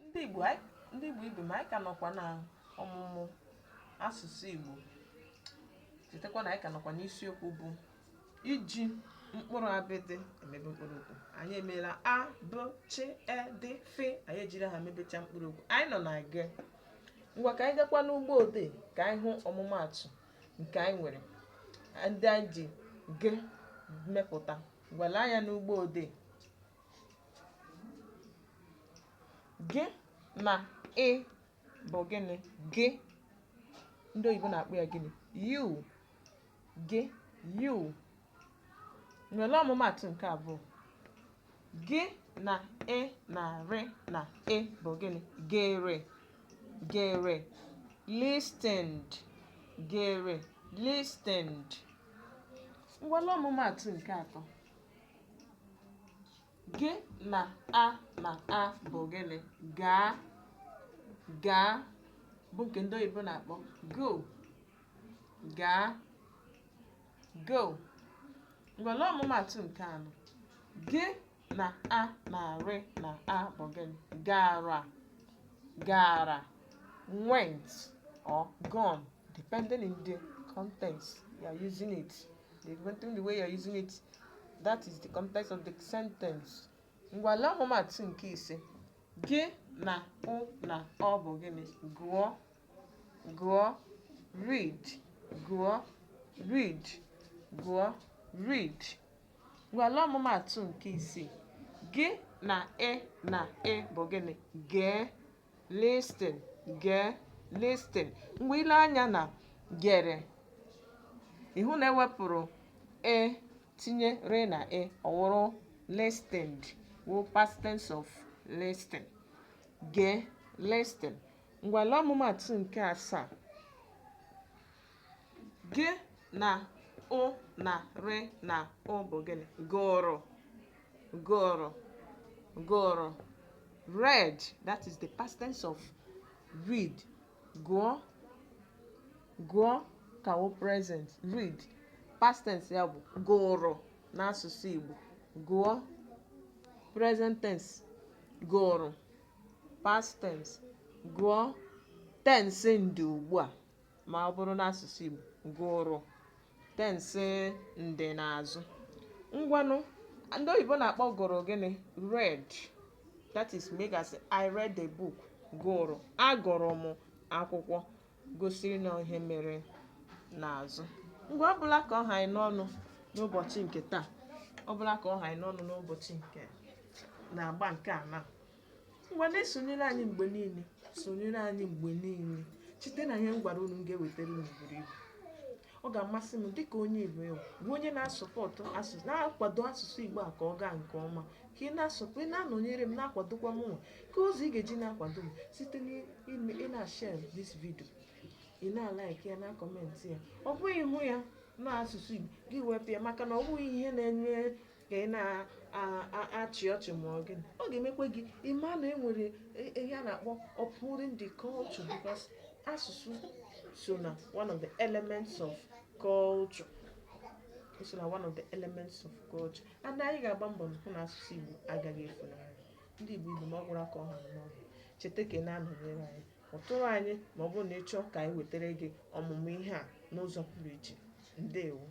ndị Igbo anyị- ndị Igbo ibe m anyị ka nọkwa na ọmụmụ asụsụ Igbo chetakwa na anyị ka nọkwa n'isiokwu bụ iji mkpụrụ abịdị emebe mkpụrụ okwu anyị emeela a b ch e d f anyị ejiri ha mebecha mkpụrụ okwu anyị nọ na g ngwa ka anyị gakwa n'ugbo odee ka anyị hụ ọmụmaatụ nke anyị nwere ndị anyị ji g mepụta ngwa lee anya n'ugbo odee gị na ị bụ gịnị gị ndị oyibo na-akpọ ya gịnị you gị you ngwa lee ọmụmatụ nke abụọ gị na e na rị na e bụ gịnị gere gere listened gere listened ngwa lee ọmụmatụ nke atọ Gị na a na a bụ gịnị? Gaa. Gaa bụ nke ndị oyibo na-akpọ go. Gaa. Go. Ngwa lee ọmụmaatụ nke anọ. Gị na a na rị na a bụ gịnị? Gara. Gara. Went or gone depending in the context you are using it. Depending the way you're using it, that is the context of the sentence. Ngwa lee ọmụmatụ nke ise. Gị na ụ na ọ bụ gịnị? Gụọ, gụọ, read, gụọ, read, gụọ, read. Ngwa lee ọmụmatụ nke isii. Gị na e na e bụ gịnị? Gee, listen gee listen ngwa i lee anya na gere ị hụ na e wepụrụ e tinye rị na e ọ wụrụ listened wụ past tense of listen gee listen ngwa lee ọmụmatụ nke asaa Gị na ụ na rị na ụ bụ gịnị? Gụrụ. Gụrụ. Gụrụ. Read. That is the past tense of read. Gụọ. Gụọ ka wụ present. Read. Past tense ya bụ gụrụ n'asụsụ Igbo. Gụọ. Present tense. Gụrụ. Past tense. Gụọ. Tense ndị ugbu a. ma ọ bụrụ n'asụsụ Igbo gụrụ tensị ndị n'azụ ngwanụ ndị oyibo na-akpọ gụrụ gịnị read that is mgbe ị ga-asị I read the book gụrụ agụrụ m akwụkwọ gosiri na ihe mere n'azụ ngwa ọ bụla ka ọ ha anyị n'ọnụ n'ụbọchị nke taa ọ bụla ka ọ ha anyị n'ọnụ n'ụbọchị nke na-agba nke a na Ngwa na-esonyere anyị mgbe niile sonyere anyị mgbe niile cheta na ihe m gwara unu m ga-ewetara unu buru ibu ọ ga-amasị m dịka onye Igbo ị wụ bụ onye na-asọpọtụ asụsụ na-akwado asụsụ Igbo a ka ọ gaa nke ọma ka ị na-asọpụ ị na-anọnyere m na-akwadokwa m nwa ka ụzọ ị ga-eji na-akwado m site n'ime ị na-share this video ị na-like ya na-comment ya ọ bụghị hụ ya n'asụsụ Igbo gị wepụ ya maka na ọ bụghị ihe na-enye ka ị na-achị ọchị ma ọ gịnị ọ ga-emekwa gị ịma na e nwere e- ihe a na-akpọ upholding the culture because asụsụ so na one of the elements of culture O so na one of the elements of culture and anyị ga-agba mbọ hụ na asụsụ Igbo agaghị efunahụ ndị Igbo Igbo ma ọ gwụrụ ka ọ ha n'ọnụ cheta ka ị na-anọnyere anyị kpọtụrụ anyị ma ọ bụrụ na ị chọọ ka anyị wetara gị ọmụmụ ihe a n'ụzọ pụrụ iche ndewo